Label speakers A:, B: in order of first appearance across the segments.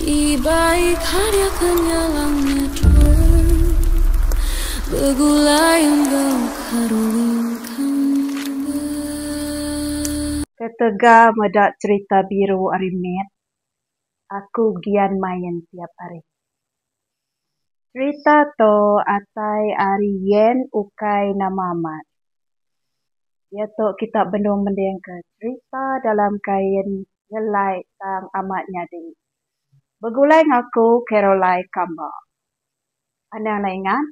A: Ibai karya kenyalang nyedul begulai enggau karuling kamba.
B: Ketegal meda cerita biru ari mit, aku gian main tiap hari. Serita tu atai ari Yen ukai nama amat. Iya tu kita benung mendingka serita dalam kain nyelai tang amat nyadi. Begulai enggau aku Carolai Kamba. Anang neh ingat,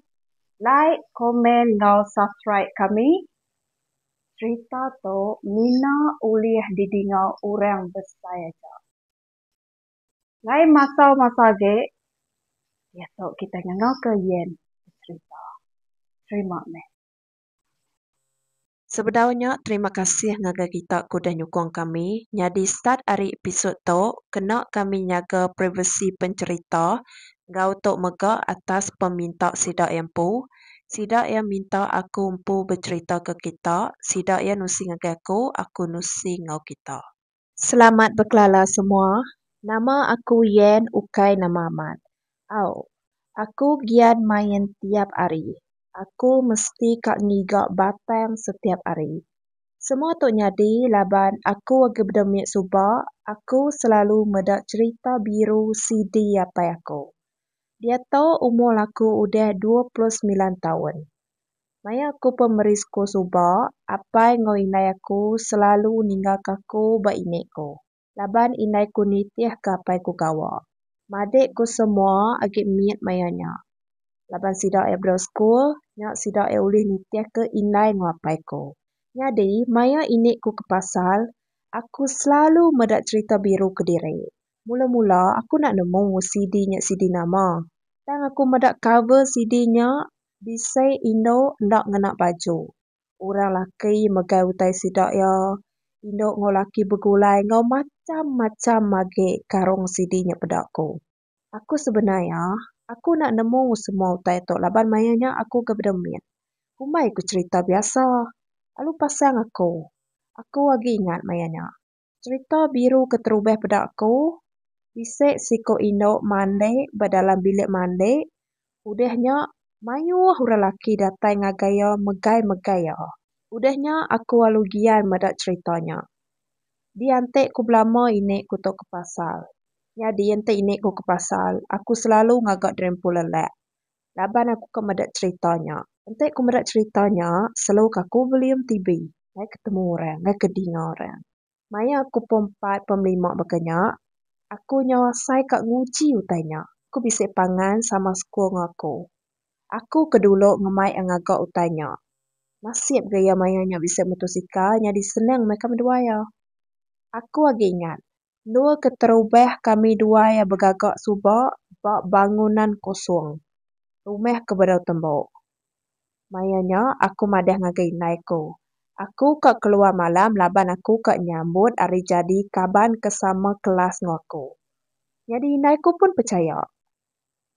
B: like, komen enggau subscribe kami. Serita tu mina ulih didinga orang besai aja. Lain masa-masa agi, diatu kitai ngangauka Yen beserita. Terima meh.
C: Sebedau nya terima kasih ngagai kita ke udah nyukung kami nyadi start ari episod tu kena kami nyaga privacy pencherita enggau tu mega atas peminta sida iya empu sida iya minta aku empu becherita ke kita sida iya nusi ngagai aku aku nusi enggau kita. Selamat bekelala semua, nama aku Yen ukai nama amat. Au. Aku gian main tiap ari. Aku mesti ka ngiga batang setiap ari. Semua tu nyadi laban aku agi bedemik suba aku selalu meda cherita biru CD apai aku. Diatu umur aku udah dua puluh semilan taun. Maya aku pemeri sekul suba, apai enggau indai aku selalu ninggalka aku ba inde ku laban indai ku nitihka apai ku gawa. Madik ku semua agi mit maya nya. Laban sida iya bedau sekul, nya sida iya ulih nitihka indai enggau apai ku. Nyadi, maya inde ku ke pasar, aku selalu meda cherita biru kediri. Mula-mula, aku enda nemu CD nya CD nama. Tang aku meda cover CD nya, Bisi indu enda ngena baju. Orang laki megai utai sida iya. Indu enggau laki begulai enggau macham-macham agi karung sidi nya peda ku. Aku sebenar iya, aku enda nemu semua utai tu laban maya nya aku kebeda mit. Kumbai ku cherita biasa lalu pasang aku. Aku agi ingat maya nya. Serita biru ke terubah peda aku, bisi siku indu mandi ba dalam bilik mandi, udah nya mayuh orang laki datai ngagai iya megai-megai iya. Udah nya aku lalu gian meda serita nya. Di enti ku belama ini ku tu ke pasal. Nyadi enti ini ku ke pasal, aku selalu ngaga drempul lelak. laban aku ka meda cerita nya. Enti ku meda cerita nya selalu ka ku volume TV ngai ketemu orang ngai ke dinga orang. Maya aku pom empat pom lima baka nya aku nyau asai ka nguji utai nya ku bisi pangan sama sekul enggau aku. Aku ke dulu ngemai a ngaga utai nya. Nasib ga iya maya nya bisi motosikal nyadi senang meh ka menduai a. Aku agi ingat Endur keterubah kami dua iya begaga suba ba bangunan kosong rumah ke bedau tembu. Maya nya aku madah ngagai indai aku, aku ka keluar malam laban aku ka nyambut ari jadi kaban ke sama kelas enggau aku. Nyadi indai aku pun pechaya.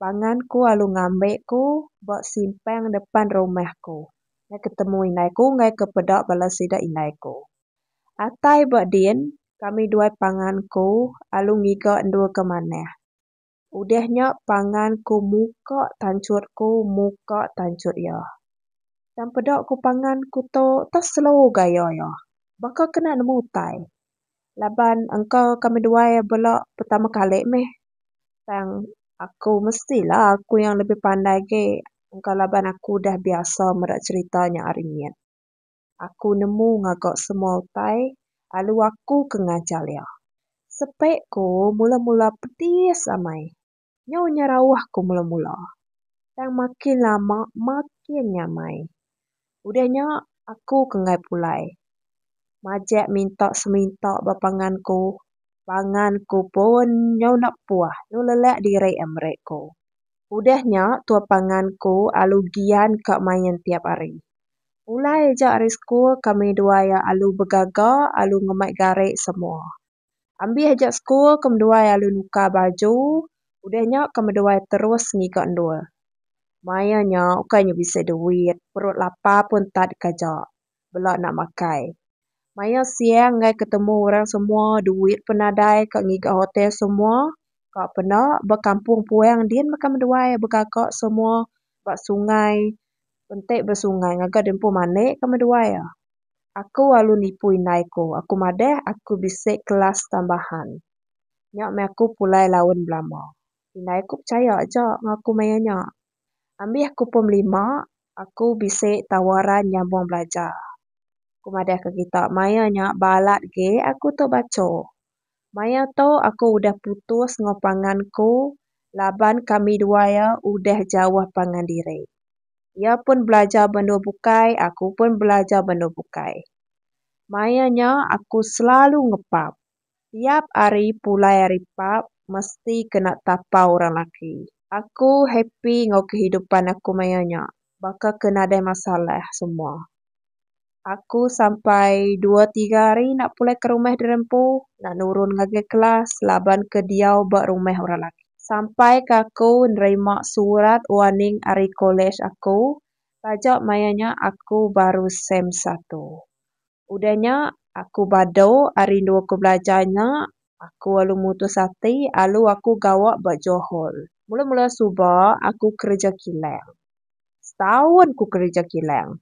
C: Pangan aku lalu ngambi aku ba simpang depan rumah aku ngai ketemu indai aku ngai ke peda bala sida indai aku. Atai ba din kami duai pangan aku lalu ngiga endur ke manah. Udah nya pangan aku muka tanchut aku muka tanchut iya. Tang peda aku pangan aku tu tau slow gaya iya. Baka kena nemu utai. laban engka ka meduai bela pertama kali meh tang aku mesti lah aku yang lebih pandai agi engka laban aku dah biasa meda cerita nya ari mit aku nemu ngaga semua utai lalu aku ke ngajar iya sepe ku mula mula pedis amai. Nyau nya rauh ku mula-mula, tang makin lama makin nyamai. Udah nya aku ke enggai pulai. Majak minta seminta ba pangan ku, pangan ku pun nyau enda puh nyau lelak diri ai meri ku. Udah nya tua pangan ku alu gian ka main tiap hari. Pulai aja ari sekul kami dua iya alu begaga, alu ngemai gari semua. Ambih aja sekul ke meduai alu nukar baju udah nya ke meduai terus ngiga endur. Maia nya ukai nya bisi duit, perut lapa pun tak deka ja bela enda makai. Maia siang enggai ketemu orang semua, duit pun nadai ka ngiga hotel semua, ka penda ba kampung puang din baka meduai begaga semua ba sungai. Pentik besungai ngaga diempu manik ke meduai iya. Aku alu nipu indai ku, aku madah aku bisi kelas tambahan. Nya meh aku pulai laun belama. Indai ku pechaya aja enggau aku maya nya. Ambih aku pom lima, aku bisi tawaran nyambung belajar. Ku madah ke kita maya nya balat ge aku tu bacho. Maya tu aku udah putus enggau pangan aku laban kami dua iya udah jauh pangan diri. Iya pun belajar banua bukai aku pun belajar banua bukai. Maya nya aku selalu ngepap. Tiap hari pulai ari pap mesti kena tapau orang laki. Aku happy enggau kehidupan aku maya nya baka ke nadai masalah semua. Aku sampai dua tiga hari enda pulai ke rumah diri empu enda nurun ngagai kelas laban ke diau ba rumah orang laki. Sampai ke aku nerima surat warning ari kolej aku taja maya nya aku baru sem satu. Udah nya aku badu ari rindu aku belajar nya aku lalu mutus ati lalu aku gawa ba Johor. Mula mula suba aku kerja kilang. Setaun ku kerja kilang.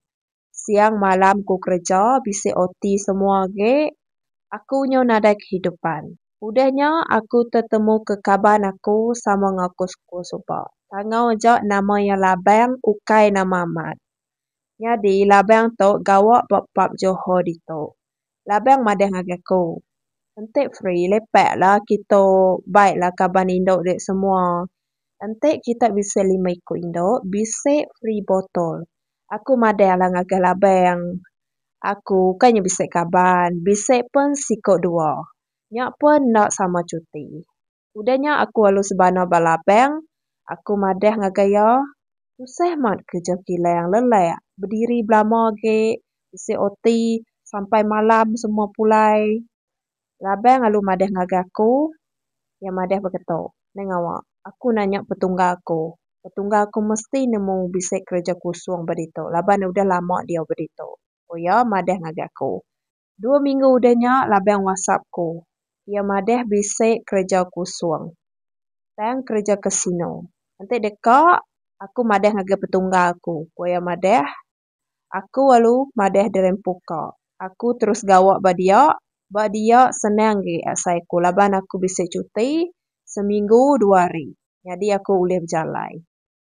C: Siang malam aku kereja bisi OT semua agi aku nyau nadai kehidupan. Udah nya aku tetemu ke kaban aku sama enggau aku sekul suba. Tangau aja nama iya Labang ukai nama amat. Nyadi Labang tu gawa ba pub Johor ditu. Labang madah ngagai aku. Enti free lepaklah kitu bai lah kaban indu ri semua. Enti kita bisi lima iku indu bisi free botol. Aku madahlah ngagai labang. Aku ukai nya bisi kaban bisi pun siku dua. Nya pun enda sama cuti. Udah nya aku alu sebana ba labang, aku madah ngagai iya, Tusah mat kereja kilang lelak bediri belama agi bisi oti sampai malam semua pulai. Labang alu madah ngagai aku, iya madah beketu, Nai ngawa, aku nanya petungga aku, petungga aku mesti nemu bisi kereja kusung ba ditu laban udah lama diau ba ditu, ku iya madah ngagai aku. Dua minggu udah nya Labang whatsapp aku. Iya madah bisi kereja kusung. Tang kereja kasino. Enti deka, aku madah ngagai petunggal aku, ku iya madah. Aku alu madah dirempu ka. Aku terus gawa ba dia. Ba dia senang agi asai aku laban aku bisi cuti seminggu dua hari. Nyadi aku ulih bejalai.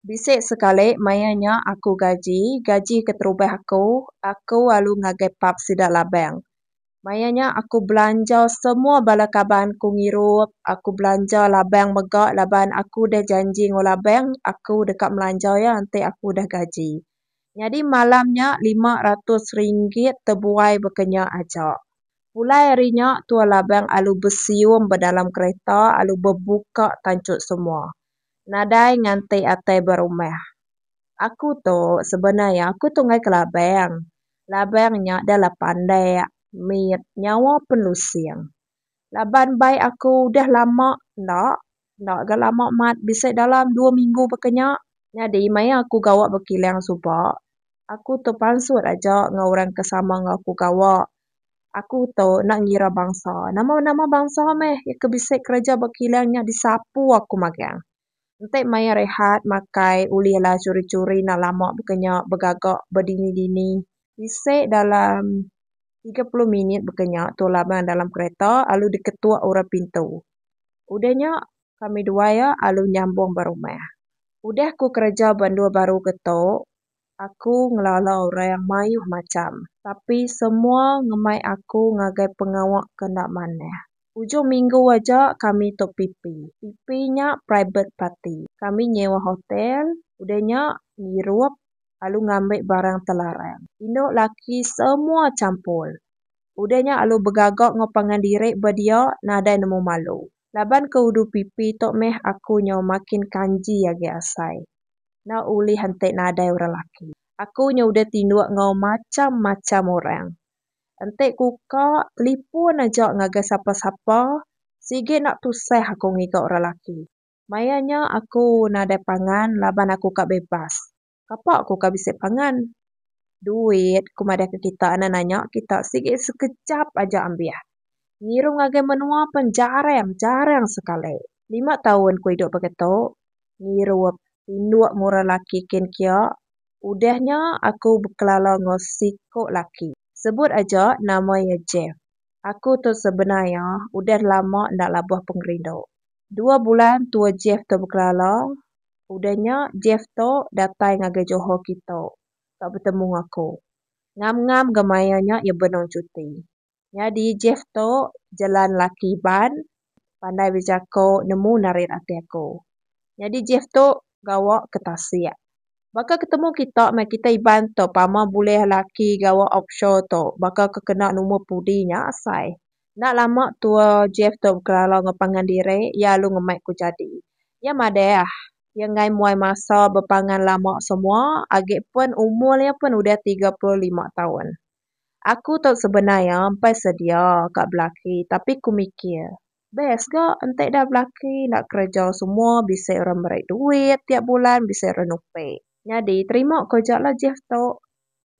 C: Bisi sekali maya nya aku gaji, gaji keterubah aku, aku alu ngagai pub sida labang. Maya nya aku belanja semua bala kaban ku ngirup, aku belanja labang mega laban aku udah janji enggau labang aku deka melanja iya enti aku udah gaji. Nyadi malam nya lima ratus ringgit tebuai baka nya aja. Pulai hari nya tua labang alu besium ba dalam kereta alu bebuka tanchut semua. Nadai nganti atai berumah. Aku tu sebenar iya aku tu enggai ke labang. Labang nya dah lah pandak, mit, nyawa pen lusing. Laban bai aku udah lama enda, enda ga lama mat bisi dalam dua minggu baka nya. Nyadi maya aku gawa bekilang suba, aku tu pansut aja enggau orang ke sama enggau aku gawa. Aku tu enda ngira bansa. Nama-nama bansa meh ke bisi kereja ba kilang nya disapu aku magang. Enti maya rehat makai ulihlah churi-churi enda lama baka nya begaga ba dini-dini. Bisi dalam tiga puluh minit baka nya tu laban dalam kereta lalu diketuk orang pintu. Udah nya kami dua iya lalu nyambung ba rumah. Udah aku kereja ba endur baru ke tu, Aku ngelala orang mayuh macham, tapi semua ngemai aku ngagai pengawa ke enda manah. Ujung minggu aja kami tu pipi. Pipi nya private party. Kami nyewa hotel, udah nya ngirup lalu ngambi barang telarang. Indu laki semua champul. Udah nya lalu begaga enggau pangan diri ba dia nadai nemu malu. Laban ke udu pipi tu meh aku nyau makin kanji agi asai. enda ulih enti nadai orang laki. Aku nya udah tinduk enggau macham-macham orang. Enti kuka telipun aja ngagai sapa-sapa, sigi enda tusah aku ngiga orang laki. Maya nya aku nadai pangan laban aku ka bebas. Kapa aku ka bisi pangan? Duit ku madahka kita enda nanya kita sigi sekejap aja ambih. Ngirum ngagai menua pen jarang, jarang sekali. Lima taun ku idup baka tu, ngirup tinduk murah laki kin kia, udah nya aku bekelala enggau siku laki. Sebut aja nama iya Jeff. Aku tu sebenar iya udah lama enda labuh pengerindu. Dua bulan tua Jeff tu bekelala, udah nya Jeff tu datai ngagai Johor kitu ka betemu enggau aku. Ngam-ngam ga maya nya iya benung cuti. Nyadi Jeff tu jelan laki iban pandai bejako nemu narit ati aku. Nyadi Jeff tu gawa ke tasik. Baka ketemu kita meh kita iban tu pama bulih laki gawa offshore tu baka ke kena numur pudi nya asai. Enda lama tua Jeff tu bekelala enggau pangan diri iya alu ngemai ku jadi. Iya madah iya enggai muai masa bepangan lama semua agi pun umur iya pun udah tiga puluh lima taun. Aku tau sebenar iya empai sedia ka belaki tapi ku mikir best ga enti ida belaki enda kereja semua bisi ira meri duit tiap bulan bisi ira nupi. Nyadi terima ko aja lah Jeff tu.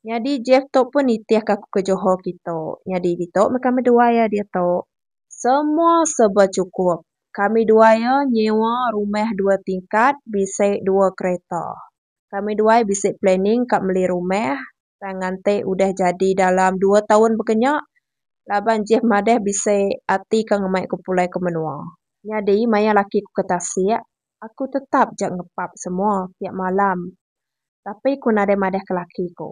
C: Nyadi Jeff tu pun nitih ka aku ke Johor kitu. Nyadi ditu meh kami dua iya ditu. Semua serba chukup. Kami dua iya nyewa rumah dua tingkat bisi dua kereta. Kami dua iya bisi planning ka meli rumah tang nganti udah jadi dalam dua taun baka nya laban Jeff madah bisi ati ke ngemai aku pulai ke menua. Nyadi maya laki ku ke tasik, aku tetap ja ngepap semua tiap malam. Tapi ku nadai madah ke laki ku.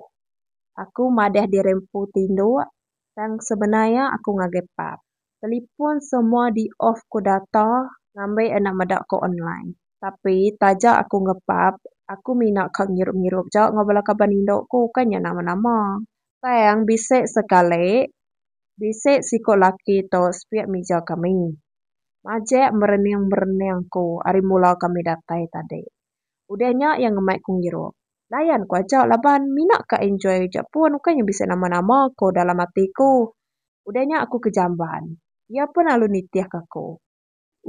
C: Aku madah diri empu tinduk tang sebenar iya aku ngagai pap. Telipon semua di off ku data ngambi enda meda ku online tapi taja aku ngepap aku mina ka ngirup ngirup ja enggau bala kaban indu ku ukai nya nama nama tang bisi sekali bisi siku laki tu sepiak mija kami majek merening merening ku ari mula kami datai tadi Udah nya iya ngemai ku Ngirup. Layan ku aja laban mina ka enjoy reja pun ukai nya bisi nama-nama ko dalam ati ku. Udah nya aku ke jamban. Iya pun alu nitih ka aku.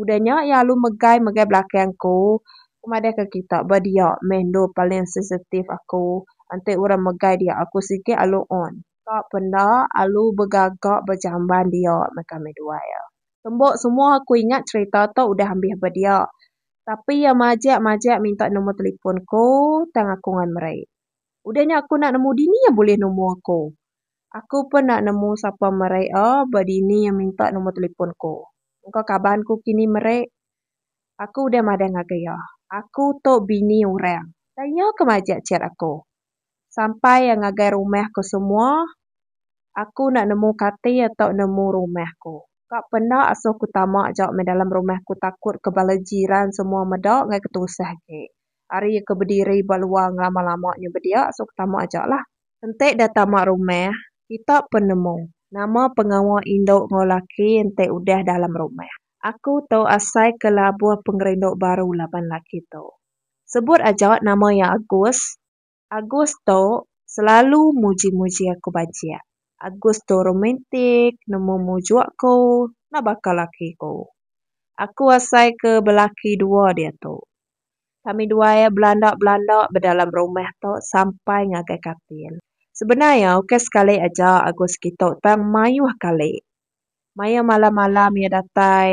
C: Udah nya iya alu megai megai belakang ku. Ku madah ka kita ba dia meh endur paling sensitif aku. Enti urang megai dia aku sigi alu on. Ka penda alu begaga ba jamban dia meh kami duai. Tembo semua aku ingat cerita tu udah ambih ba dia. Tapi iya majak majak minta nombor telefon aku tang aku ngan meri. Udah nya aku enda nemu dini iya bulih nemu aku. Aku pun enda nemu sapa meri a ba dini iya minta nombor telefon aku. Engka kaban aku kini meri. Aku udah madah ngagai iya. Aku tu bini orang. Tang iya ke majak chat aku. sampai iya ngagai rumah aku semua, aku enda nemu kati atau nemu rumah aku. Ka penda asuh aku tama aja meh dalam rumah aku takut ke bala jiran semua meda ngai ke tusah agi. Ari iya ke bediri ba luar ngelama-lama nyau be dia asuh aku tama aja lah. Enti da tama rumah, kita pun nemu nama pengawa indu enggau laki enti udah dalam rumah. Aku tu asai ke labuh pengerindu baru laban laki tu. sebut aja nama iya Agus. Agus tu selalu muji-muji aku bajik. Agus tu romantik nemu mujuk aku enda baka laki aku. Aku asai ke belaki dua diatu. Kami dua iya belanda-belanda ba dalam rumah tu sampai ngagai katil. Sebenar iya ukai sekali aja Agus kitu tang mayuh kali. Maya malam-malam iya datai,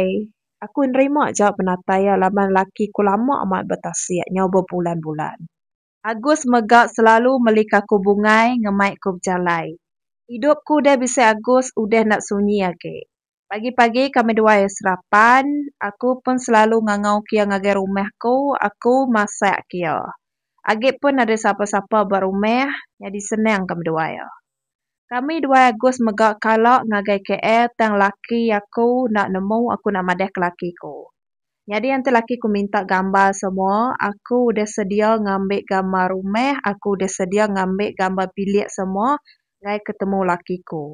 C: aku nerima ja penatai iya laban laki ku lama amat betasik nyau bebulan-bulan. Agus mega selalu melika aku bungai ngemai ku bejalai. Idup ku udah bisi Agus udah enda sunyi agi. Pagi-pagi kami dua iya serapan, aku pun selalu ngangau ke iya ngagai rumah aku, aku masak ke iya. Agi pun nadai sapa-sapa ba rumah, nyadi senang kami dua iya. Kami duai Agus mega kala ngagai KL tang laki aku enda nemu aku enda madah ke laki ku. Nyadi enti laki ku minta gambar semua aku udah sedia ngambi gambar rumah aku udah sedia ngambi gambar bilik semua ngai ketemu laki ku.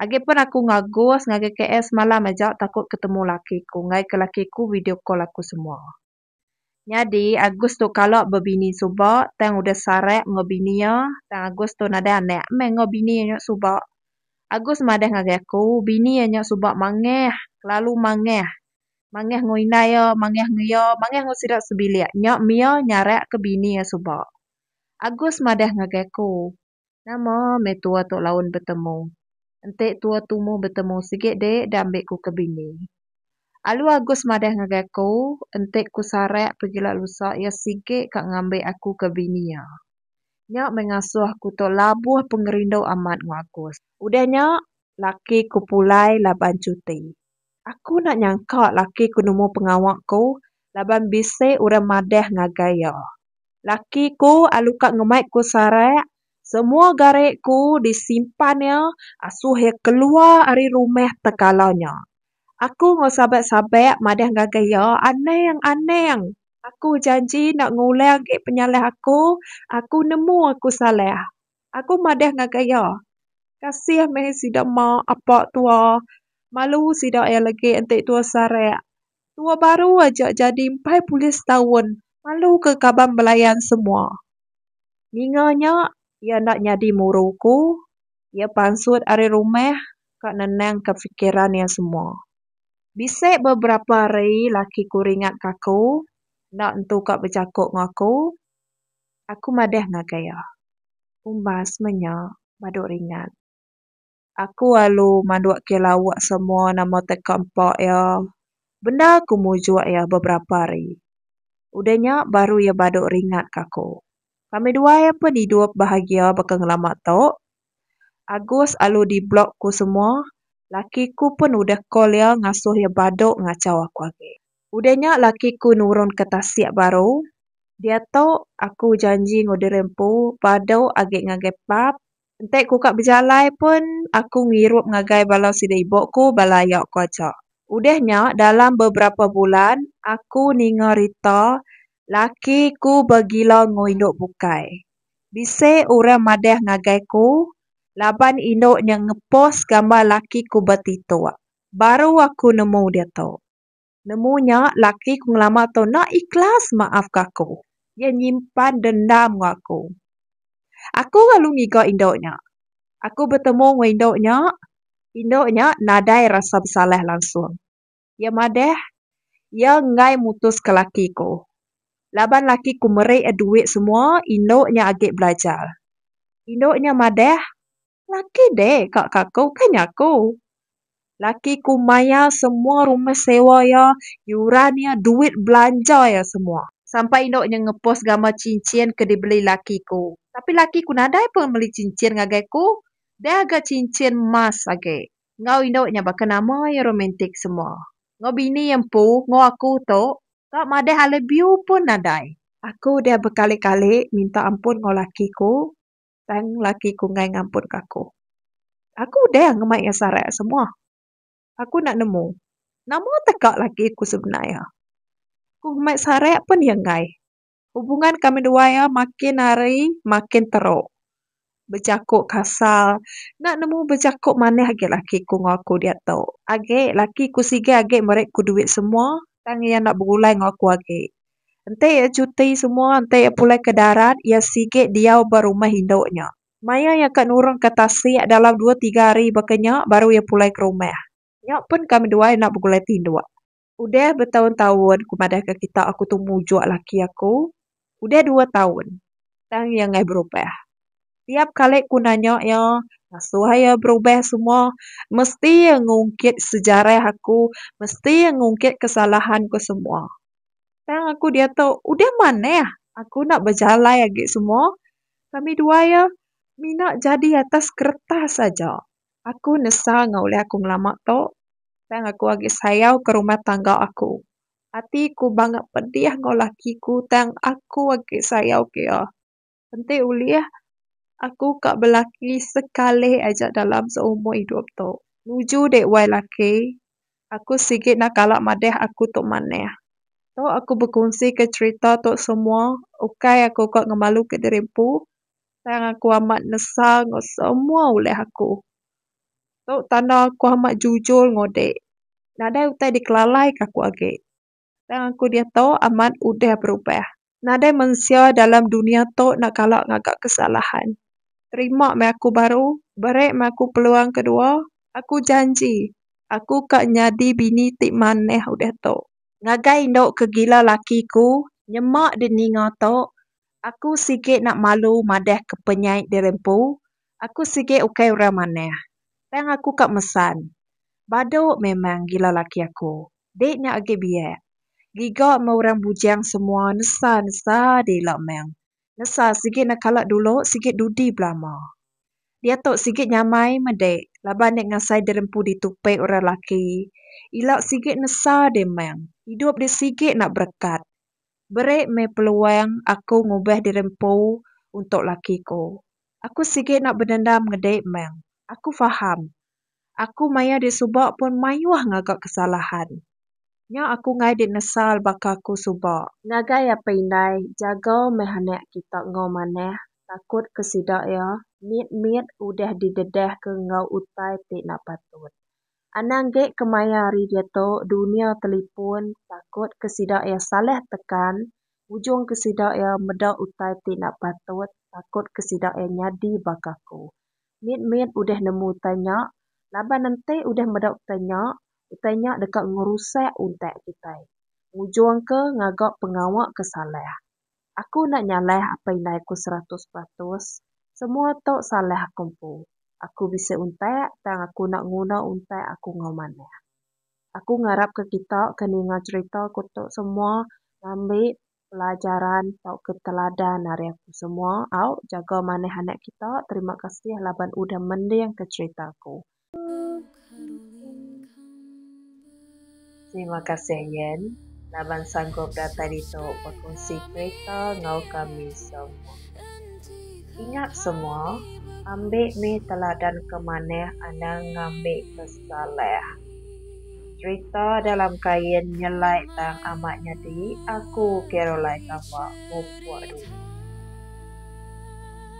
C: Agi pun aku enggau Agus ngagai KL semalam aja takut ketemu laki ku ngaika laki ku video call aku semua. Nyadi Agus tu kala bebini suba tang udah sarak enggau bini iya tang Agus tu nadai anak meh enggau bini iya nya suba. Agus madah ngagai aku bini iya nya suba mangah kelalu mangah. Mangah
B: enggau indai iya mangah enggau iya mangah enggau sida sebilik nya mih iya nyarak ke bini iya suba. Agus madah ngagai aku. Nama meh tua tok laun betemu. Enti tua tumu betemu sigi dik da ambi ku ke bini. Alu Agus madah ngagai aku, enti ku sarak pegila lusa iya sigi ka ngambi aku ke bini iya. Nya meh ngasuh aku tok labuh pengerindu amat enggau Agus. Udah nya, laki ku pulai laban cuti. Aku enda nyangka laki ku nemu pengawa ku laban bisi orang madah ngagai iya. Laki ku alu ka ngemai ku sarak, semua gari ku disimpan iya asuh iya keluar ari rumah tekala nya. Aku enggau sabat-sabat madah ngagai iya, Anang, anang, aku janji enda ngulang agi penyalah aku, aku nemu aku salah. Aku madah ngagai iya, kasih meh sida mak apa tua malu sida iya lagi enti tua sarak. Tua baru aja jadi empai pulih setaun malu ke kaban belayan semua. Ninga nya iya enda nyadi muru aku, iya pansut ari rumah ka nenangka fikiran iya semua. Bisi beberapa hari laki ku ringatka aku enda entu ka bejaku enggau aku. Aku madah ngagai iya. Umbas semenya badu ringat. Aku alu mandukke lawuk semua nama teka empa iya. Bendar aku mujuk iya beberapa hari. Udah nya baru iya badu ringatka aku. Kami duai ampun idup bahagia baka ngelama tu. Agus alu di blok ku semua, laki ku pun udah call iya ngasuh iya badu ngachau aku agi. Udah nya laki ku nurun ke tasik baru, diatu aku janji enggau diri empu badu agi ngagai pub, enti ku ka bejalai pun aku ngirup ngagai bala sida ibu ku bala aya ku aja. Udah nya dalam beberapa bulan aku ninga rita Laki ku begila enggau indu bukai. Bisi orang madah ngagai ku laban indu nya ngepos gambar laki ku ba titok. Baru aku nemu diatu. Nemu nya laki ku ngelama tu enda ikhlas maafka aku. Iya nyimpan dendam enggau aku. Aku lalu ngiga indu nya. Aku betemu enggau indu nya. Indu nya nadai rasa besalah langsung. Iya madah, Iya enggai mutuska laki aku. Laban laki aku meri iya duit semua indu nya agi belajar. Indu nya madah, Laki deh ka ka aku, kai nya aku. Laki aku mayar semua rumah sewa iya, yuran iya, duit belanja iya semua. Sampai indu nya ngepost gambar cincin ke dibeli laki aku. Tapi laki aku nadai pun meli cincin ngagai aku, dah ga cincin emas agi. Enggau indu nya baka nama iya romantik semua. Enggau bini iya empu enggau aku tu ka madah I love you pun nadai. Aku udah bekali-kali minta ampun enggau laki ku tang laki ku enggai ngampunka aku. Aku udah ngemai iya sarak semua. Aku enda nemu nama teka laki aku semina iya. Ku ngemai sarak pun iya enggai. Hubungan kami dua iya makin hari makin teruk. Bejaku kasar. Enda nemu bejaku manih agi laki aku enggau aku diatu. Agi laki aku sigi agi meri aku duit semua tang iya enda begulai enggau aku agi. Enti iya cuti semua, enti iya pulai ke darat, iya sigi diau ba rumah indu nya. Maya iya ka nurunka tasik dalam dua tiga hari baka nya baru iya pulai ke rumah. Nya pun kami dua enda begulai tinduk. Udah betaun-taun aku madahka kitak aku tu mujuk laki aku. Udah dua taun tang iya enggai berubah. Tiap kali ku nanya iya ngasuh iya berubah semua mesti iya ngungkit sejarah aku, mesti iya ngungkit kesalahan ku semua. Tang aku diatu udah manah aku enda bejalai agi semua. Kami dua iya mina jadi atas keretas aja. Aku nesa enggau ulih aku ngelama tu, tang aku agi sayau ke rumah tangga aku. Ati ku bangga pedih enggau laki ku tang aku agi sayau ke iya. Enti ulih, aku ka belaki sekalih aja dalam seumur idup tu. Nuju dek wai laki, aku sigi enda kala madeh aku tu manah. Tu aku bekunsi ke cherita tu semua ukai aku ka ngemalu ke diri empu, Tang aku amat nesal enggau semua ulih aku. Tu tanda aku amat jujur enggau dek. Nadai utai dikelalaika aku agi. Tang aku diatu amat udah berubah. Nadai mensia dalam dunia tu enda kala ngaga kesalahan. Terima meh aku baru, beri meh aku peluang kedua. Aku janji aku
C: ka nyadi bini ti manah udah tu. Ngagai indu ke gila laki ku, nyema di ninga tu, Aku sigi enda malu madahka penyai diri empu, aku sigi ukai orang manah. Tang aku ka mesan. Badu memang gila laki aku. Dik nya agi biak. Giga meh orang bujang semua nesa nesa diri ila meng nesa sigi enda kala dulu sigi dudi belama. Diatu sigi nyamai meh dik laban enda ngasai diri empu ditu pek orang laki. Ila sigi nesa diri meng idup diri sigi enda berekat. beri meh peluang aku ngubah diri empu untuk laki ku. Aku sigi enda bedendam ngedi meh. Aku faham, aku maya di suba pun mayuh ngaga kesalahan. Nya aku ngai di nesal baka ku suba. Ngagai apai indai, jaga meh anak kita enggau manah, takut ke sida iya, mit-mit udah didedahka enggau utai ti enda patut. Anang gek kemaya ari diatu dunia telepon takut ke sida ia salah tekan ujung ke sida ia meda utai ti enda patut takut ke sida ia nyadi ba kaku. Mit mit udah nemu utai nya laban enti udah meda utai nya utai nya deka ngerusak untak kitai ngujung ke ngaga pengawa ke salah. Aku enda nyalai apai indai aku seratus peratus. Semua tu salah aku empu. Aku bisi untak tang aku enda nguna untak aku enggau manah. Aku ngarapka kita ke ninga cherita aku tu semua ngambi pelajaran tauka teladan ari aku semua au jaga manah anak kita. Terima kasih laban udah mendingka cherita aku. Terima kasih Yen laban sanggup datai ditu bekongsi kereta enggau kami semua. Ingat semua, ambi mih teladan ke manah anang ngambi ke salah. Cerita dalam kain nyelai tang amat nyadi aku Caroline Tambak, Mupok dulu.